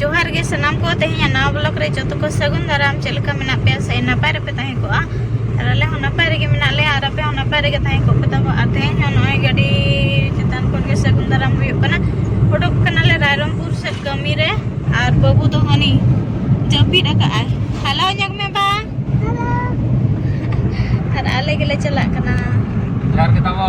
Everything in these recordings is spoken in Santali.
ᱡᱚᱦᱟᱨ ᱜᱮ ᱥᱟᱱᱟᱢ ᱠᱚ ᱛᱮᱦᱮᱧᱟᱜ ᱱᱟᱣᱟ ᱵᱞᱚᱜ ᱨᱮ ᱡᱚᱛᱚ ᱠᱚ ᱥᱟᱹᱜᱩᱱ ᱫᱟᱨᱟᱢ ᱪᱮᱫ ᱞᱮᱠᱟ ᱢᱮᱱᱟᱜ ᱯᱮᱭᱟ ᱥᱮ ᱱᱟᱯᱟᱭ ᱨᱮᱯᱮ ᱛᱟᱦᱮᱸ ᱠᱚᱜᱼᱟ ᱟᱨ ᱟᱞᱮ ᱦᱚᱸ ᱱᱟᱯᱟᱭ ᱨᱮᱜᱮ ᱢᱮᱱᱟᱜ ᱞᱮᱭᱟ ᱟᱨ ᱟᱯᱮ ᱦᱚᱸ ᱱᱟᱯᱟᱭ ᱨᱮᱜᱮ ᱛᱟᱦᱮᱸ ᱠᱚᱜ ᱯᱮ ᱛᱟᱵᱚ ᱟᱨ ᱛᱮᱦᱮᱧ ᱦᱚᱸ ᱱᱚᱜᱼᱚᱭ ᱜᱟᱹᱰᱤ ᱪᱮᱛᱟᱱ ᱠᱷᱚᱱ ᱜᱮ ᱥᱟᱹᱜᱩᱱ ᱫᱟᱨᱟᱢ ᱦᱩᱭᱩᱜ ᱠᱟᱱᱟ ᱩᱰᱩᱠ ᱠᱟᱱᱟᱞᱮ ᱨᱟᱭᱨᱚᱝᱯᱩᱨ ᱥᱮᱫ ᱠᱟᱹᱢᱤ ᱨᱮ ᱟᱨ ᱵᱟᱹᱵᱩ ᱫᱚ ᱦᱟᱹᱱᱤ ᱡᱟᱹᱯᱤᱫ ᱟᱠᱟᱫᱼᱟᱭ ᱦᱟᱞᱟᱣ ᱧᱚᱜ ᱢᱮ ᱵᱟ ᱟᱨ ᱟᱞᱮ ᱜᱮᱞᱮ ᱪᱟᱞᱟᱜ ᱠᱟᱱᱟ ᱡᱚᱦᱟᱨ ᱜᱮ ᱛᱟᱵᱚ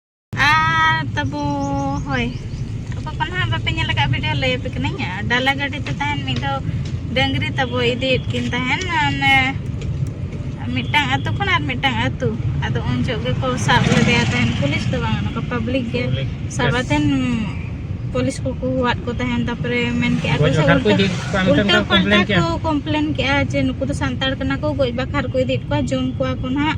ᱟᱨ ᱛᱟᱵᱚ ᱦᱳᱭ ᱚᱠᱚᱭ ᱠᱚ ᱱᱟᱦᱟᱜ ᱵᱟᱯᱮ ᱧᱮᱞ ᱟᱠᱟᱫ ᱵᱷᱤᱰᱤᱭᱳ ᱞᱟᱹᱭ ᱟᱯᱮ ᱠᱟᱹᱱᱟᱹᱧ ᱰᱟᱞᱟ ᱜᱟᱹᱰᱤ ᱛᱮ ᱛᱟᱦᱮᱱ ᱢᱤᱫ ᱫᱷᱟᱣ ᱰᱟᱹᱝᱨᱤ ᱛᱟᱵᱚ ᱤᱫᱤᱭᱮᱫ ᱠᱤᱱ ᱛᱟᱦᱮᱱ ᱚᱱᱮ ᱢᱤᱫᱴᱟᱝ ᱟᱹᱛᱩ ᱠᱷᱚᱱ ᱟᱨ ᱢᱤᱫᱴᱟᱝ ᱟᱹᱛᱩ ᱟᱫᱚ ᱩᱱ ᱡᱚᱦᱚᱜ ᱜᱮᱠᱚ ᱥᱟᱵ ᱞᱮᱫᱮᱭᱟ ᱛᱟᱦᱮᱱ ᱯᱩᱞᱤᱥ ᱫᱚ ᱵᱟᱝ ᱱᱚᱝᱠᱟ ᱯᱟᱵᱽᱞᱤᱠ ᱜᱮ ᱥᱟᱵ ᱟᱛᱮᱱ ᱯᱩᱞᱤᱥ ᱠᱚᱠᱚ ᱦᱚᱦᱚᱣᱟᱫ ᱠᱚ ᱛᱟᱦᱮᱱ ᱛᱟᱨᱯᱚᱨᱮ ᱢᱮᱱ ᱠᱮᱜᱼᱟ ᱠᱚ ᱥᱮ ᱩᱞᱴᱟᱹ ᱯᱟᱞᱴᱟ ᱠᱚ ᱠᱚᱢᱯᱞᱮᱱ ᱠᱮᱜᱼᱟ ᱡᱮ ᱱᱩᱠᱩ ᱫᱚ ᱥᱟᱱᱛᱟᱲ ᱠᱟᱱᱟ ᱠᱚ ᱜᱚᱡ ᱵᱟᱠᱷᱨᱟ ᱠᱚ ᱤᱫᱤᱭᱮᱫ ᱠᱚᱣᱟ ᱡᱚᱢ ᱠᱚᱣᱟ ᱠᱚ ᱱᱟᱦᱟᱜ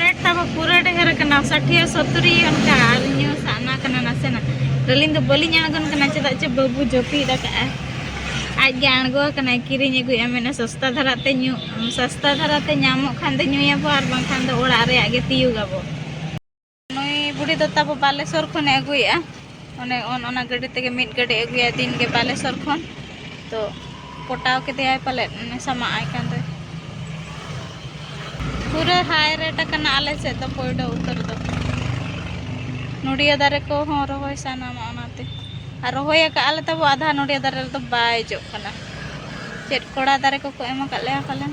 ᱨᱮᱴ ᱛᱟᱵᱚ ᱯᱩᱨᱟᱹ ᱰᱷᱮᱨ ᱠᱟᱱᱟ ᱥᱟᱴᱷᱤᱭᱟ ᱥᱚᱛᱩᱨᱤ ᱚᱱᱠᱟ ᱟᱨ ᱤᱧ ᱥᱟᱱᱟ ᱠᱟᱱᱟ ᱱᱟᱥᱮᱱᱟᱜ ᱟᱹᱞᱤᱧ ᱫᱚ ᱵᱟᱹᱞᱤᱧ ᱟᱬᱜᱚᱱ ᱠᱟᱱᱟ ᱪᱮᱫᱟᱜ ᱪᱮ ᱵᱟᱹᱵᱩ ᱡᱟᱹᱯᱤᱫ ᱟᱠᱟᱜᱼᱟ ᱟᱡ ᱜᱮ ᱟᱬᱜᱚ ᱠᱟᱱᱟᱭ ᱠᱤᱨᱤᱧ ᱟᱹᱜᱩᱭᱟ ᱢᱮᱱᱟ ᱥᱚᱥᱛᱟ ᱫᱷᱟᱨᱟ ᱛᱮ ᱧᱩ ᱥᱚᱥᱛᱟ ᱫᱷᱟᱨᱟ ᱛᱮ ᱧᱟᱢᱚᱜ ᱠᱷᱟᱱ ᱫᱚ ᱧᱩᱭᱟᱵᱚ ᱟᱨ ᱵᱟᱝᱠᱷᱟᱱ ᱫᱚ ᱚᱲᱟᱜ ᱨᱮᱭᱟᱜ ᱜᱮ ᱛᱤᱭᱩᱜᱟᱵᱚ ᱱᱩᱭ ᱵᱩᱰᱷᱤ ᱫᱚ ᱛᱟᱵᱚ ᱵᱟᱞᱮᱥᱚᱨ ᱠᱷᱚᱱᱮ ᱟᱹᱜᱩᱭᱮᱜᱼᱟ ᱚᱱᱮ ᱚᱱᱟ ᱜᱟᱹᱰᱤ ᱛᱮᱜᱮ ᱢᱤᱫ ᱜᱟᱹᱰᱤ ᱟᱹᱜᱩᱭᱟ ᱫᱤᱱ ᱜᱮ ᱵᱟᱞᱮᱥᱚᱨ ᱠᱷᱚᱱ ᱛᱚ ᱯᱚᱴᱟᱣ ᱠᱮᱫᱮᱭᱟᱭ ᱯᱟᱞᱮ ᱥᱟᱢᱟᱜ ᱟᱭ ᱠᱟᱱ ᱫᱚᱭ ᱯᱩᱨᱟᱹ ᱦᱟᱭ ᱨᱮᱴ ᱟᱠᱟᱱᱟ ᱟᱞᱮ ᱥᱮᱫ ᱫᱚ ᱯᱚᱭᱰᱚ ᱩᱛᱟᱹᱨ ᱫᱚ ᱱᱚᱰᱤᱭᱟ ᱫᱟᱨᱮ ᱠᱚᱦᱚᱸ ᱨᱚᱦᱚᱭ ᱥᱟᱱᱟᱢᱟ ᱚᱱᱟᱛᱮ ᱟᱨ ᱨᱚᱦᱚᱭ ᱟᱠᱟᱫ ᱟᱞᱮ ᱛᱟᱵᱚ ᱟᱫᱷᱟ ᱱᱚᱰᱤᱭᱟ ᱫᱟᱨᱮ ᱨᱮᱫᱚ ᱵᱟᱭ ᱡᱚᱜ ᱠᱟᱱᱟ ᱪᱮᱫ ᱠᱚᱲᱟ ᱫᱟᱨᱮ ᱠᱚᱠᱚ ᱮᱢ ᱟᱠᱟᱫ ᱞᱮᱭᱟ ᱯᱟᱞᱮᱱ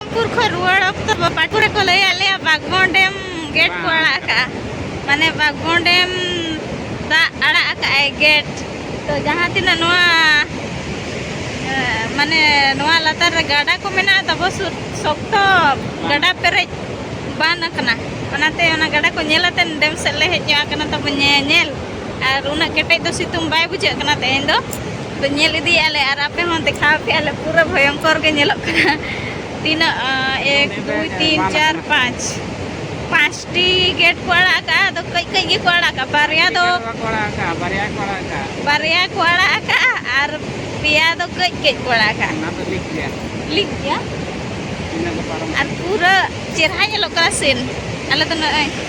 ᱯᱟᱴᱯᱩᱨ ᱠᱷᱚᱱ ᱨᱩᱣᱟᱹᱲ ᱚᱠᱛᱚ ᱯᱟᱴᱯᱩᱨ ᱨᱮᱠᱚ ᱞᱟᱹᱭ ᱟᱫ ᱞᱮᱭᱟ ᱵᱟᱜᱽᱵᱚᱱ ᱰᱮᱢ ᱜᱮᱴ ᱠᱚ ᱟᱲᱟᱜ ᱟᱠᱟᱜᱼᱟ ᱢᱟᱱᱮ ᱵᱟᱜᱽᱵᱚᱱ ᱰᱮᱢ ᱫᱟᱜ ᱟᱲᱟᱜ ᱟᱠᱟᱜᱼᱟᱭ ᱜᱮᱴ ᱛᱚ ᱡᱟᱦᱟᱸ ᱛᱤᱱᱟᱹᱜ ᱱᱚᱣᱟ ᱢᱟᱱᱮ ᱱᱚᱣᱟ ᱞᱟᱛᱟᱨ ᱨᱮ ᱜᱟᱰᱟ ᱠᱚ ᱢᱮᱱᱟᱜᱼᱟ ᱛᱟᱵᱚ ᱥᱩᱨ ᱥᱚᱠᱛᱚ ᱜᱟᱰᱟ ᱯᱮᱨᱮᱡ ᱵᱟᱱ ᱟᱠᱟᱱᱟ ᱚᱱᱟᱛᱮ ᱚᱱᱟ ᱜᱟᱰᱟ ᱠᱚ ᱧᱮᱞ ᱟᱛᱮᱱ ᱰᱮᱢ ᱥᱮᱫ ᱞᱮ ᱦᱮᱡ ᱧᱚᱜ ᱟᱠᱟᱱᱟ ᱛᱟᱵᱚ ᱧᱮᱧᱮᱞ ᱟᱨ ᱩᱱᱟᱹᱜ ᱠᱮᱴᱮᱡ ᱫᱚ ᱥᱤᱛᱩᱝ ᱵᱟᱭ ᱵᱩᱡᱷᱟᱹᱜ ᱠᱟᱱᱟ ᱛᱮᱦᱮᱧ ᱫᱚ ᱛᱚ ᱧᱮᱞ ᱤᱫᱤᱭᱮᱫᱼᱟ ᱞᱮ ᱟᱨ ᱟᱯᱮ ᱦᱚᱸ ᱫᱮᱠᱷᱟᱣ ᱯᱮᱭᱟ ᱞᱮ ᱯᱩᱨᱟᱹ ᱵᱷᱚᱭᱚᱝᱠᱚᱨ ᱜᱮ ᱧᱮᱞᱚᱜ ᱠᱟᱱᱟ ᱛᱤᱱᱟᱹᱜ ᱮᱠ ᱫᱩᱭ ᱛᱤᱱ ᱪᱟᱨ ᱯᱟᱸᱪ ᱯᱟᱸᱪᱴᱤ ᱜᱮᱴ ᱠᱚ ᱟᱲᱟᱜ ᱟᱠᱟᱫᱼᱟ ᱟᱫᱚ ᱠᱟᱹᱡ ᱠᱟᱹᱡ ᱜᱮᱠᱚ ᱟᱲᱟᱜ ᱟᱠᱟᱫᱼᱟ ᱵᱟᱨᱭᱟ ᱫᱚ ᱵᱟᱨᱭᱟ ᱠᱚ ᱟᱲᱟᱜ ᱟᱠᱟᱫᱼᱟ ᱟᱨ ᱯᱮᱭᱟ ᱫᱚ ᱠᱟᱹᱡ ᱠᱟᱹᱡ ᱠᱚ ᱟᱲᱟᱜ ᱟᱠᱟᱫᱼᱟ ᱞᱤᱠ ᱜᱮᱭᱟ ᱟᱨ ᱯᱩᱨᱟᱹ ᱪᱮᱨᱦᱟ ᱧᱮᱞᱚᱜ ᱠᱟᱱᱟ ᱥᱤᱱ ᱟᱞᱮ ᱫᱚ ᱱᱚᱜᱼᱚᱭ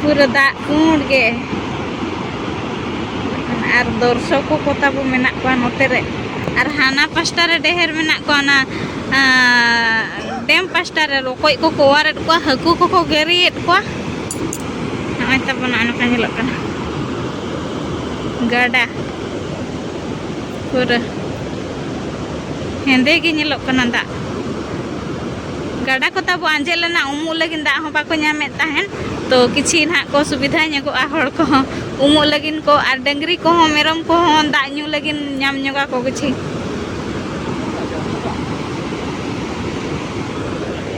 ᱯᱩᱨᱟᱹ ᱫᱟᱜ ᱯᱩᱸᱰ ᱜᱮ ᱟᱨ ᱫᱚᱨᱥᱚᱠᱚ ᱠᱚ ᱛᱟᱵᱚ ᱢᱮᱱᱟᱜ ᱠᱚᱣᱟ ᱱᱚᱛᱮ ᱨᱮ ᱟᱨ ᱦᱟᱱᱟ ᱯᱟᱥᱴᱟ ᱨᱮ ᱰᱮᱦᱮᱨ ᱢᱮᱱᱟᱜ ᱠᱚᱣᱟ ᱚᱱᱟ ᱰᱮᱢ ᱯᱟᱥᱴᱟ ᱨᱮ ᱨᱚᱠᱚᱡ ᱠᱚᱠᱚ ᱚᱣᱟᱨᱮᱫ ᱠᱚᱣᱟ ᱦᱟᱹᱠᱩ ᱠᱚᱠᱚ ᱜᱮᱨᱤᱭᱮᱫ ᱠᱚᱣᱟ ᱱᱚᱜᱼᱚᱭ ᱛᱟᱵᱚᱱ ᱱᱚᱜᱼᱚ ᱱᱚᱝᱠᱟ ᱧᱮᱞᱚᱜ ᱠᱟᱱᱟ ᱜᱟᱰᱟ ᱯᱩᱨᱟᱹ ᱦᱮᱸᱫᱮ ᱜᱮ ᱧᱮᱞᱚᱜ ᱠᱟᱱᱟ ᱫᱟᱜ ᱜᱟᱰᱟ ᱠᱚ ᱛᱟᱵᱚ ᱟᱸᱡᱮᱫ ᱞᱮᱱᱟ ᱩᱢᱩᱜ ᱞᱟᱹᱜᱤᱫ ᱫᱟᱜ ᱦᱚᱸ ᱵᱟᱠᱚ ᱧᱟᱢᱮᱫ ᱛᱟᱦᱮᱱ ᱛᱚ ᱠᱤᱪᱷᱤ ᱱᱟᱦᱟᱜ ᱠᱚ ᱥᱩᱵᱤᱫᱷᱟ ᱧᱚᱜᱚᱜᱼᱟ ᱦᱚᱲ ᱠᱚᱦᱚᱸ ᱩᱢᱩᱜ ᱞᱟᱹᱜᱤᱫ ᱠᱚ ᱟᱨ ᱰᱟᱹᱝᱨᱤ ᱠᱚᱦᱚᱸ ᱢᱮᱨᱚᱢ ᱠᱚᱦᱚᱸ ᱫᱟᱜ ᱧᱩ ᱞᱟᱹᱜᱤᱫ ᱧᱟᱢ ᱧᱚᱜᱟ ᱠᱚ ᱠᱤᱪᱷᱤ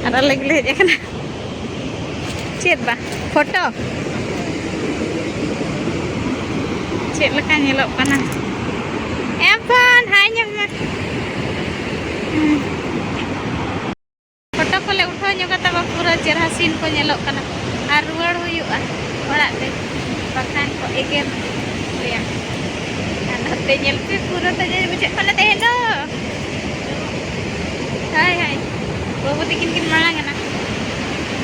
ᱟᱨ ᱟᱞᱮ ᱜᱮᱞᱮ ᱦᱮᱡ ᱟᱠᱟᱱᱟ ᱪᱮᱫ ᱵᱟ ᱯᱷᱳᱴᱳ ᱪᱮᱫ ᱞᱮᱠᱟ ᱧᱮᱞᱚᱜ ᱠᱟᱱᱟ ᱮᱢ ᱯᱷᱳᱱ ᱦᱟᱭ ᱧᱮᱞ ᱢᱮ ᱯᱷᱳᱴᱳ ᱠᱚᱞᱮ ᱩᱴᱷᱟᱹᱣ ᱧᱚᱜ ᱠᱟᱛᱟ ᱠᱚ ᱯᱩᱨᱟᱹ ᱪᱮᱨᱦᱟ ᱥᱤᱱ ᱠᱚ ᱧᱮᱞᱚᱜ ᱠᱟᱱᱟ ᱟᱨ ᱨᱩᱣᱟᱹᱲ ᱦᱩᱭᱩᱜᱼᱟ ᱚᱲᱟᱜ ᱛᱮ ᱵᱟᱠᱷᱟᱱ ᱠᱚ ᱮᱜᱮᱨ ᱞᱮᱭᱟ ᱟᱨ ᱱᱚᱛᱮ ᱧᱮᱞ ᱯᱮ ᱯᱩᱨᱟᱹ ᱛᱟᱡᱮ ᱵᱩᱡᱷᱟᱹᱜ ᱠᱟᱱᱟ ᱛᱮᱦᱮᱧ ᱫᱚ ᱦᱳᱭ ᱦᱳᱭ ᱵᱟᱹᱵᱩ ᱛᱤᱠᱤᱱ ᱠᱤᱱ ᱢᱟᱲᱟᱝ ᱮᱱᱟ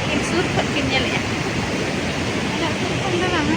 ᱠᱤᱱ ᱥᱩᱨ ᱠᱷᱚᱱ ᱠᱤᱱ ᱧᱮᱞᱮᱜᱼᱟ ᱩᱱᱟᱹᱜ ᱥᱩᱨ ᱠᱷᱚᱱ ᱫᱚ ᱵᱟᱝᱟ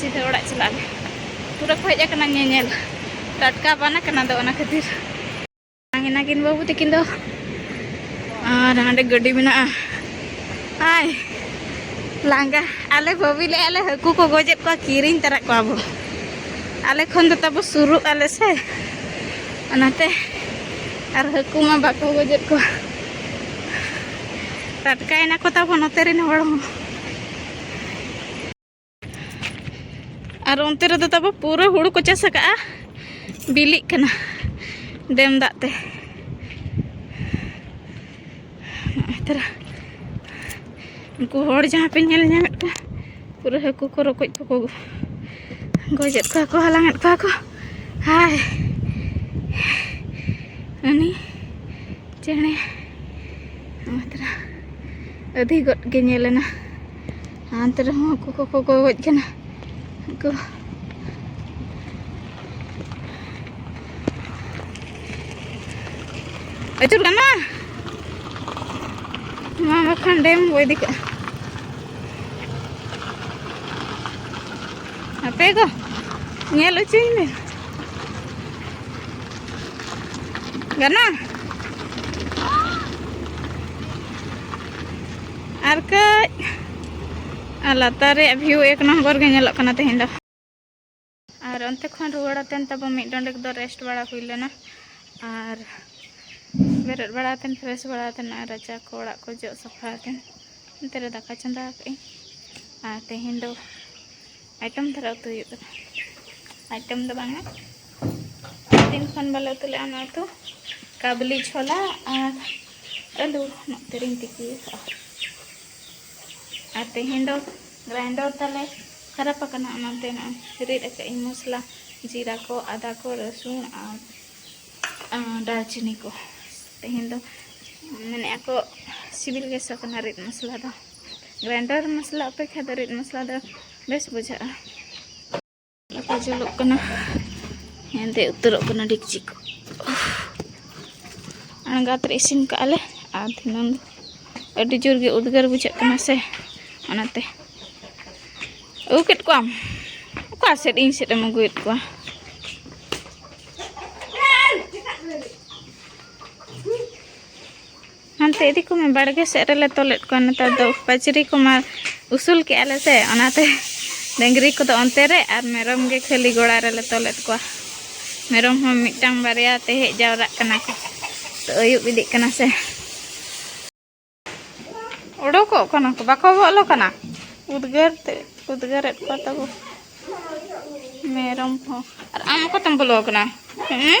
ᱥᱤᱫᱷᱟᱹ ᱚᱲᱟᱜ ᱪᱟᱞᱟᱜ ᱟᱞᱮ ᱯᱩᱨᱟᱹ ᱠᱚ ᱦᱮᱡ ᱟᱠᱟᱱᱟ ᱧᱮᱧᱮᱞ ᱴᱟᱴᱠᱟ ᱵᱟᱱ ᱟᱠᱟᱱᱟ ᱫᱚ ᱚᱱᱟ ᱠᱷᱟᱹᱛᱤᱨ ᱱᱟᱝᱜᱤᱱᱟ ᱠᱤᱱ ᱵᱟᱹᱵᱩ ᱛᱟᱹᱠᱤᱱ ᱫᱚ ᱟᱨ ᱦᱟᱸᱰᱮ ᱜᱟᱹᱰᱤ ᱢᱮᱱᱟᱜᱼᱟ ᱟᱭ ᱞᱟᱸᱜᱟ ᱟᱞᱮ ᱵᱷᱟᱹᱵᱤ ᱞᱮ ᱟᱞᱮ ᱦᱟᱹᱠᱩ ᱠᱚ ᱜᱚᱡᱮᱫ ᱠᱚᱣᱟ ᱠᱤᱨᱤᱧ ᱛᱟᱨᱟ ᱠᱚᱣᱟ ᱵᱚ ᱟᱞᱮ ᱠᱷᱚᱱ ᱫᱚ ᱛᱟᱵᱚ ᱥᱩᱨᱩᱜ ᱟᱞᱮ ᱥᱮ ᱚᱱᱟᱛᱮ ᱟᱨ ᱦᱟᱹᱠᱩ ᱢᱟ ᱵᱟᱠᱚ ᱜᱚᱡᱮᱫ ᱠᱚᱣᱟ ᱴᱟᱴᱠᱟᱭᱮᱱᱟ ᱠᱚ ᱛᱟᱵᱚ ᱱᱚᱛᱮ ᱨᱮᱱ ᱦᱚᱲ ᱦᱚᱸ ᱟᱨ ᱚᱱᱛᱮ ᱨᱮᱫᱚ ᱛᱟᱵᱚ ᱯᱩᱨᱟᱹ ᱦᱩᱲᱩ ᱠᱚ ᱪᱟᱥ ᱟᱠᱟᱜᱼᱟ ᱵᱤᱞᱤᱜ ᱠᱟᱱᱟ ᱰᱮᱢ ᱫᱟᱜ ᱛᱮ ᱛᱟᱨᱟ ᱩᱱᱠᱩ ᱦᱚᱲ ᱡᱟᱦᱟᱸ ᱯᱮ ᱧᱮᱞ ᱧᱟᱢᱮᱫ ᱠᱚᱣᱟ ᱯᱩᱨᱟᱹ ᱦᱟᱹᱠᱩ ᱠᱚ ᱨᱚᱠᱚᱡ ᱠᱚᱠᱚ ᱜᱚᱡᱮᱫ ᱠᱚᱣᱟ ᱠᱚ ᱦᱟᱞᱟᱝᱮᱫ ᱠᱚᱣᱟ ᱠᱚ ᱦᱟᱭ ᱩᱱᱤ ᱪᱮᱬᱮ ᱛᱟᱨᱟ ᱟᱹᱫᱷᱤ ᱜᱚᱫ ᱜᱮ ᱧᱮᱞ ᱮᱱᱟ ᱦᱟᱱᱛᱮ ᱨᱮᱦᱚᱸ ᱦᱟᱹᱠᱩ ᱠᱚᱠᱚ ᱜᱚᱡ ᱠᱟᱱᱟ ᱦᱟᱹᱠᱩ ᱟᱹᱪᱩᱨ ᱠᱟᱱᱟ ᱢᱟ ᱵᱟᱠᱷᱟᱱ ᱰᱮᱢ ᱵᱚ ᱤᱫᱤ ᱠᱟᱜᱼᱟ ᱦᱟᱯᱮ ᱜᱚ ᱧᱮᱞ ᱚᱪᱚᱧ ᱢᱮ Yan na. ᱟᱨ ᱠᱟᱹᱡ ᱟᱨ ᱞᱟᱛᱟᱨ ᱨᱮᱭᱟᱜ ᱵᱷᱤᱭᱩ ᱮᱠ ᱱᱚᱢᱵᱚᱨ ᱜᱮ ᱧᱮᱞᱚᱜ ᱠᱟᱱᱟ ᱛᱮᱦᱮᱧ ᱫᱚ ᱟᱨ ᱚᱱᱛᱮ ᱠᱷᱚᱱ ᱨᱩᱣᱟᱹᱲ ᱟᱛᱮᱱ ᱛᱟᱵᱚ ᱢᱤᱫ ᱰᱚᱸᱰᱮᱠ ᱫᱚ ᱨᱮᱥᱴ ᱵᱟᱲᱟ ᱦᱩᱭ ᱞᱮᱱᱟ ᱟᱨ ᱵᱮᱨᱮᱫ ᱵᱟᱲᱟ ᱟᱛᱮᱱ ᱯᱷᱨᱮᱥ ᱵᱟᱲᱟ ᱟᱛᱮᱱ ᱟᱨ ᱨᱟᱪᱟ ᱠᱚ ᱚᱲᱟᱜ ᱠᱚ ᱡᱚᱜ ᱥᱟᱯᱷᱟ ᱟᱛᱮᱱ ᱚᱱᱛᱮ ᱨᱮ ᱫᱟᱠᱟ ᱪᱚᱸᱫᱟ ᱟᱠᱟᱫ ᱟᱹᱧ ᱟᱨ ᱛᱮᱦᱮᱧ ᱫᱚ ᱟᱭᱴᱮᱢ ᱫᱷᱟᱨᱟ ᱩᱛᱩ ᱦᱩᱭᱩᱜ ᱠᱟᱱᱟ ᱟᱭᱴᱮᱢ ᱫᱚ ᱵᱟᱝᱟ ᱫᱤᱱ ᱠᱷᱚᱱ ᱵᱟᱞᱮ ᱩᱛᱩ ᱞᱮᱫᱼᱟ ᱚᱱᱟ ᱩᱛᱩ ᱠᱟᱵᱞᱤ ᱪᱷᱚᱞᱟ ᱟᱨ ᱟᱹᱞᱩ ᱱᱚᱛᱮ ᱨᱤᱧ ᱛᱤᱠᱤ ᱟᱠᱟᱫᱼᱟ ᱟᱨ ᱛᱮᱦᱮᱧ ᱫᱚ ᱜᱨᱟᱭᱤᱱᱰᱚᱨ ᱛᱟᱞᱮ ᱠᱷᱟᱨᱟᱯ ᱟᱠᱟᱱᱟ ᱚᱱᱟᱛᱮ ᱱᱚᱜᱼᱚᱭ ᱨᱤᱫ ᱟᱠᱟᱫ ᱤᱧ ᱢᱚᱥᱞᱟ ᱡᱤᱨᱟ ᱠᱚ ᱟᱫᱟ ᱠᱚ ᱨᱟᱹᱥᱩᱱ ᱟᱨ ᱫᱟᱨᱪᱤᱱᱤ ᱠᱚ ᱛᱮᱦᱮᱧ ᱫᱚ ᱢᱮᱱᱮᱫ ᱟᱠᱚ ᱥᱤᱵᱤᱞ ᱜᱮ ᱥᱚ ᱠᱟᱱᱟ ᱨᱤᱫ ᱢᱚᱥᱞᱟ ᱫᱚ ᱜᱨᱟᱭᱱᱰᱟᱨ ᱢᱚᱥᱞᱟ ᱚᱯᱮᱠᱷᱟ ᱫᱚ ᱨᱤᱫ ᱢᱚᱥᱞᱟ ᱫᱚ ᱵᱮᱥ ᱵᱩᱡᱷᱟᱹᱜᱼᱟ ᱞᱟᱯᱟ ᱡᱩᱞᱩᱜ ᱠᱟᱱᱟ ᱦᱮᱸᱫᱮ ᱩᱛᱟᱹᱨᱚᱜ ᱠᱟᱱᱟ ᱰᱮᱠᱪᱤ ᱠᱚ ᱟᱬᱜᱟᱛ ᱨᱮ ᱤᱥᱤᱱ ᱠᱟᱜᱼᱟ ᱞᱮ ᱟᱨ ᱫᱷᱤᱱᱟᱹᱝ ᱫᱚ ᱟᱹᱰᱤ ᱡᱳᱨ ᱜᱮ ᱩᱫᱽᱜᱟᱹᱨ ᱵᱩᱡᱷᱟᱹᱜ ᱠᱟᱱᱟ ᱥᱮ ᱚᱱᱟᱛᱮ ᱟᱹᱜᱩ ᱠᱮᱫ ᱠᱚᱣᱟᱢ ᱚᱠᱟ ᱥᱮᱫ ᱤᱧ ᱥᱮᱫ ᱮᱢ ᱟᱹᱜᱩᱭᱮᱫ ᱠᱚᱣᱟ ᱦᱟᱱᱛᱮ ᱤᱫᱤ ᱠᱚᱢᱮ ᱵᱟᱲᱜᱮ ᱥᱮᱫ ᱨᱮᱞᱮ ᱛᱚᱞᱮᱫ ᱠᱚᱣᱟ ᱱᱮᱛᱟᱨ ᱫᱚ ᱯᱟᱹᱪᱨᱤ ᱠᱚᱢᱟ ᱩᱥᱩᱞ ᱠᱮᱜᱼᱟ ᱞᱮ ᱥᱮ ᱚᱱᱟᱛᱮ ᱰᱟᱹᱝᱨᱤ ᱠᱚᱫᱚ ᱚᱱᱛᱮ ᱨᱮ ᱟᱨ ᱢᱮᱨᱚᱢ ᱜᱮ ᱠᱷᱟᱹᱞᱤ ᱜᱚᱲᱟ ᱨᱮᱞᱮ ᱛᱚᱞᱮᱫ ᱠᱚᱣᱟ ᱢᱮᱨᱚᱢ ᱦᱚᱸ ᱢᱤᱫᱴᱟᱝ ᱵᱟᱨᱭᱟ ᱛᱮ ᱦᱮᱡ ᱡᱟᱣᱨᱟᱜ ᱠᱟᱱᱟ ᱠᱚ ᱛᱚ ᱟᱹᱭᱩᱵ ᱤᱫᱤᱜ ᱠᱟᱱᱟ ᱥᱮ ᱚᱰᱚᱠᱚᱜ ᱠᱟᱱᱟ ᱠᱚ ᱵᱟᱠᱚ ᱵᱚᱞᱚ ᱠᱟᱱᱟ ᱩᱫᱽᱜᱟᱹᱨ ᱛᱮ ᱩᱫᱽᱜᱟᱹᱨᱮᱫ ᱠᱚᱣᱟ ᱛᱟᱵᱚ ᱢᱮᱨᱚᱢ ᱦᱚᱸ ᱟᱨ ᱟᱢ ᱚᱠᱟᱛᱮᱢ ᱵᱚᱞᱚ ᱠᱟᱱᱟ ᱦᱮᱸ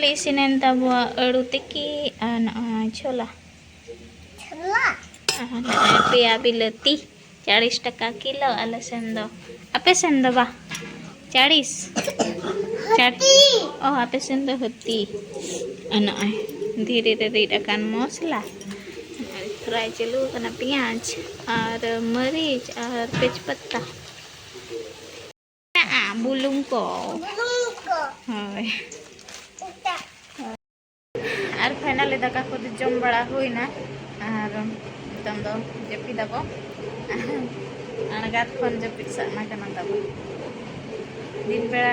ᱞᱮ ᱤᱥᱤᱱᱮᱱ ᱛᱟᱵᱚᱣᱟ ᱟᱹᱲᱩ ᱛᱤᱠᱤ ᱟᱨ ᱱᱚᱜᱼᱚᱭ ᱪᱷᱳᱞᱟ ᱪᱷᱳᱞᱟ ᱟᱨ ᱱᱚᱜᱼᱚᱭ ᱯᱮᱭᱟ ᱵᱤᱞᱟᱹᱛᱤ ᱪᱟᱲᱤᱥ ᱴᱟᱠᱟ ᱠᱤᱞᱳ ᱟᱞᱮ ᱥᱮᱱ ᱫᱚ ᱟᱯᱮ ᱥᱮᱱ ᱫᱚ ᱵᱟ ᱪᱟᱲᱤᱥ ᱪᱟᱴᱤ ᱚ ᱟᱯᱮ ᱥᱮᱱ ᱫᱚ ᱦᱟᱹᱛᱤ ᱟᱨ ᱱᱚᱜᱼᱚᱭ ᱫᱷᱤᱨᱤ ᱨᱮ ᱨᱤᱫ ᱟᱠᱟᱱ ᱢᱚᱥᱞᱟ ᱯᱷᱨᱟᱭ ᱪᱟᱹᱞᱩ ᱟᱠᱟᱱᱟ ᱯᱮᱸᱭᱟᱡᱽ ᱟᱨ ᱢᱟᱹᱨᱤᱪ ᱟᱨ ᱛᱮᱡᱽᱯᱟᱛᱟ ᱢᱮᱱᱟᱜᱼᱟ ᱵᱩᱞᱩᱝ ᱠᱚ ᱦᱳᱭ ᱟᱨ ᱯᱷᱟᱭᱱᱟᱞᱤ ᱫᱟᱠᱟ ᱠᱚᱫᱚ ᱡᱚᱢ ᱵᱟᱲᱟ ᱦᱩᱭᱱᱟ ᱟᱨ ᱱᱤᱛᱚᱝ ᱫᱚ ᱡᱟᱹᱯᱤᱫᱟᱵᱚ ᱟᱬᱜᱟᱛ ᱠᱷᱚᱱ ᱡᱟᱹᱯᱤᱫ ᱥᱟᱜᱱᱟ ᱠᱟᱱᱟ ᱛᱟᱵᱚ ᱫᱤᱱ ᱵᱮᱲᱟ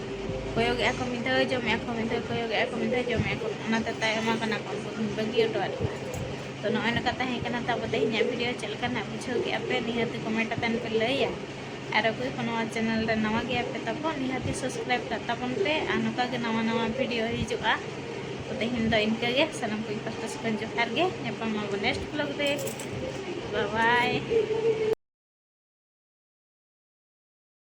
ᱠᱚᱭᱚᱜᱮᱫᱼᱟ ᱠᱚ ᱢᱤᱫ ᱫᱷᱟᱣ ᱡᱚᱢᱮᱫᱼᱟ ᱠᱚ ᱢᱤᱫ ᱫᱷᱟᱣ ᱠᱚᱭᱚᱜᱮᱫᱼᱟ ᱠᱚ ᱢᱤᱫ ᱫᱷᱟᱣ ᱡᱚᱢᱮᱫᱼᱟ ᱠᱚ ᱚᱱᱟᱛᱮ ᱛᱟᱭᱚᱢᱟ ᱠᱟᱱᱟ ᱠᱚ ᱩᱱᱠᱩ ᱫᱚᱧ ᱵᱟᱹᱜᱤ ᱦᱚᱴᱚᱣᱟᱫ ᱠᱚᱣᱟ ᱛᱚ ᱱᱚᱜᱼᱚᱭ ᱱᱚᱝᱠᱟ ᱛᱟᱦᱮᱸ ᱠᱟᱱᱟ ᱛᱟᱵᱚ ᱛᱮᱦᱮᱧᱟᱜ ᱵᱷᱤᱰᱤᱭᱳ ᱪᱮᱫ ᱞᱮᱠᱟ ᱱᱟᱜ ᱵᱩᱡᱷᱟᱹᱣ ᱠᱮᱫᱼᱟ ᱯᱮ ᱱᱤᱦᱟᱹᱛ ᱠᱚᱢᱮᱱᱴ ᱟᱛᱮᱱ ᱯᱮ ᱞᱟᱹᱭᱟ ᱟᱨ ᱚᱠᱚᱭ ᱠᱚ ᱱᱚᱣᱟ ᱪᱮᱱᱮᱞ ᱨᱮ ᱱᱟᱣᱟ ᱜᱮᱭᱟ ᱯᱮ ᱛᱟᱵᱚ ᱱᱤᱦᱟᱹᱛ ᱥᱟᱵᱥᱠᱨᱟᱭᱤᱵ ᱠᱟᱜ ᱛᱟᱵᱚᱱ ᱯᱮ ᱟᱨ ᱱᱚᱝᱠᱟ ᱜᱮ ᱱᱟᱣᱟ ᱱᱟᱣᱟ ᱵᱷᱤᱰᱤᱭᱳ ᱦᱤᱡᱩᱜᱼᱟ ᱛᱚ ᱛᱮᱦᱮᱧ ᱫᱚ ᱤᱱᱠᱟᱹ ᱜᱮ ᱥᱟᱱᱟᱢ ᱠᱚ ᱯᱟᱥᱴᱟ ᱥᱮᱫ ᱠᱷᱚᱱ ᱡᱚᱦᱟᱨ ᱜᱮ ᱧᱟᱯᱟᱢ ᱟᱵᱚ ᱱᱮᱠᱥᱴ ᱵᱞᱚᱜ ᱨᱮ ᱵᱟᱭ